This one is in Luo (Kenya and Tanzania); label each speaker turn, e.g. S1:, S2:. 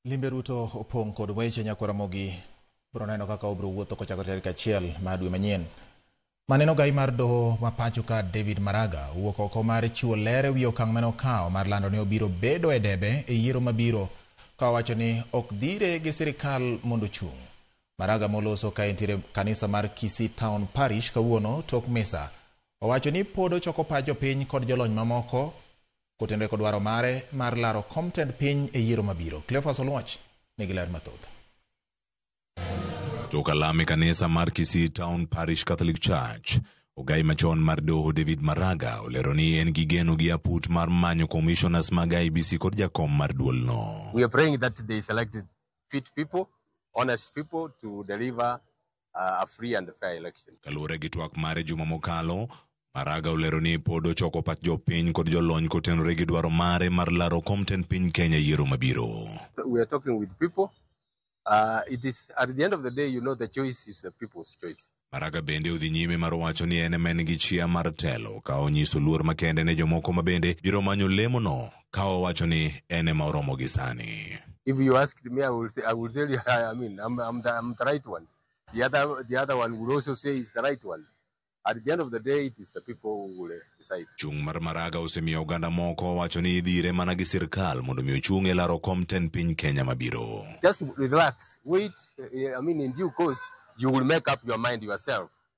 S1: Limbe Ruto opong' kod weche nyakwara mogi bro neno kaka obro wuotho kochako tarik achiel ma dwe manyien. Maneno gai mar doho ma pacho ka David Maraga owuok oko mar chiwo ler e wi okang' mane okawo mar lando ni obiro bedo e debe e yiero mabiro ka owacho ni ok dhire gi sirikal mondo ochung'. Maraga moloso ka entiere kanisa mar Kisii Town Parish kawuono tok misa owacho ni pod ochoko pach jopiny kod jolony mamoko Kotenre kod dwaro mare mar laro kom tend piny e yiero mabiro, Cleophas Oluoch nigi ler mathoth.
S2: Tok alam e kanisa mar Kisii Town Parish Catholic Church, ogai machon mar doho David Maraga olero ni en gi geno gi aput mar manyo commissioners mag IEBC kod jakom mar duolno. We are praying that they
S3: selected fit people, honest people to deliver uh, a free and fair election. Kaluwore gi twak mare
S2: juma mokalo, Maraga olero ni pod ochoko pach jopiny kod jolony kotenore gi dwaro mare mar laro kom tend piny Kenya yiero mabiro. We are talking
S3: with people. Uh, it is at the end of the day, you know, the choice is the people's choice. Maraga bende odhi
S2: nyime mar wacho ni en ema en gi chia mar telo ka onyiso luor makende ne jomoko ma bende biro manyo lemono ka owacho ni en ema oromo gi sani. If you asked
S3: me, I will, say, I will tell you, I mean, I'm, I'm, the, I'm the right one. The other, the other one will also say is the right one. At the end of the day, it is the people who will eh, decide. Chung' mar Maraga
S2: osemiyo oganda moko wacho ni idhire mana gi sirkal mondo mi ochung' e laro kom ten piny Kenya mabiro. Just relax,
S3: wait, eh, I mean, in due course, you will make up your mind yourself.